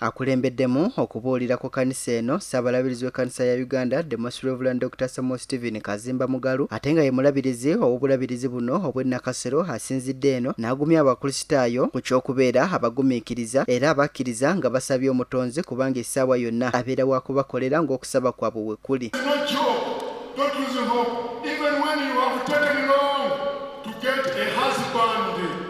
akulembeddemu okubuulira ku kanisa eno ssabalabirizi w'ekkanisa ya uganda the most reverend dr samuel stephen kazimba mugalu ate nga ye mulabirizi ow'obulabirizi buno obw'ennakasero asinzidde eno n'agumya abakristaayo ku ky'okubeera abagumiikiriza era abakkiriza nga basabye omutonzi kubanga essaawa yonna abeera wa kubakolera ng'okusaba kwabwe bwe kuli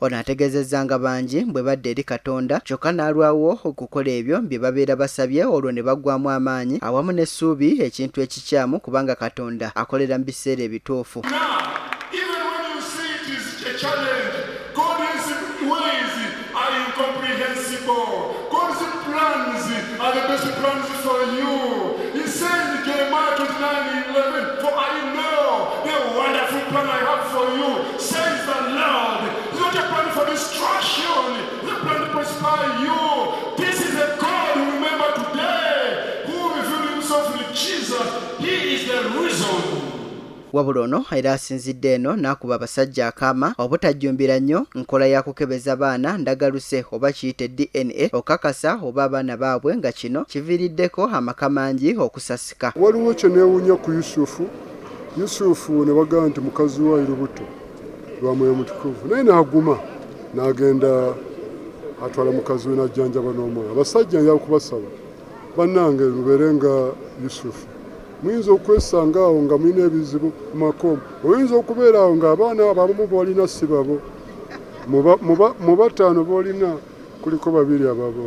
Ono ategezezza nga bangi bwe badda eri Katonda kyokka n'alwawo okukola ebyo bye babeera basabye olwo ne baggwaamu amaanyi awamu n'essuubi ekintu ekikyamu kubanga Katonda akolera mu biseera ebituufu. wabula ono era asinzidde eno n'akuba abasajja akaama obutajjumbira nnyo nkola ya kukebeza baana ndagaluse oba kiyite dna okakasa oba abaana baabwe nga kino kiviiriddeko amaka mangi okusasika waliwo kye neewunya ku yusufu Yusufu ne bagamba nti, Mukazi wo ali lubuto lwa Mwoyo Mutukuvu. Naye n'aguma, n'agenda atwala mukazi we n'ajjanjaba n'omwana. Abasajja njala kubasaba, bannange, mubeere nga Yusufu. Muyinza okwesanga awo nga mulina ebizibu ku maka, oyinza okubeera awo ng'abaana abo abamu b'olina si babo. Mu bataano b'olina kuliko babiri ababo.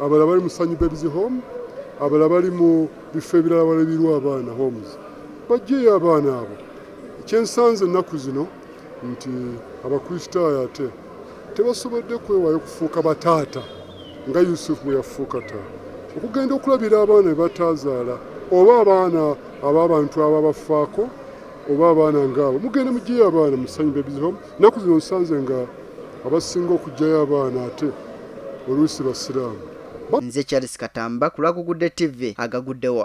abalala bali mu Sanyu Babies Home, abalala bali mu bifo ebirala walabirwa abaana homes. Bajjeeyo abaana abo. Kyensanze ennaku zino nti Abakristaayo ate tebasobodde kwewaayo kufuuka bataata nga Yusufu bwe yafuuka taata okugenda okulabira abaana be bataazaala oba abaana ab'abantu ababafaako oba abaana ngaabo mugende mugyeyo abaana musanyu babies home Ennaku zino nsanze nga abasinga okujjayo abaana ate oluusi basiraamu. Nze Charles Katamba ku lwa Gugudde TV agaguddewo.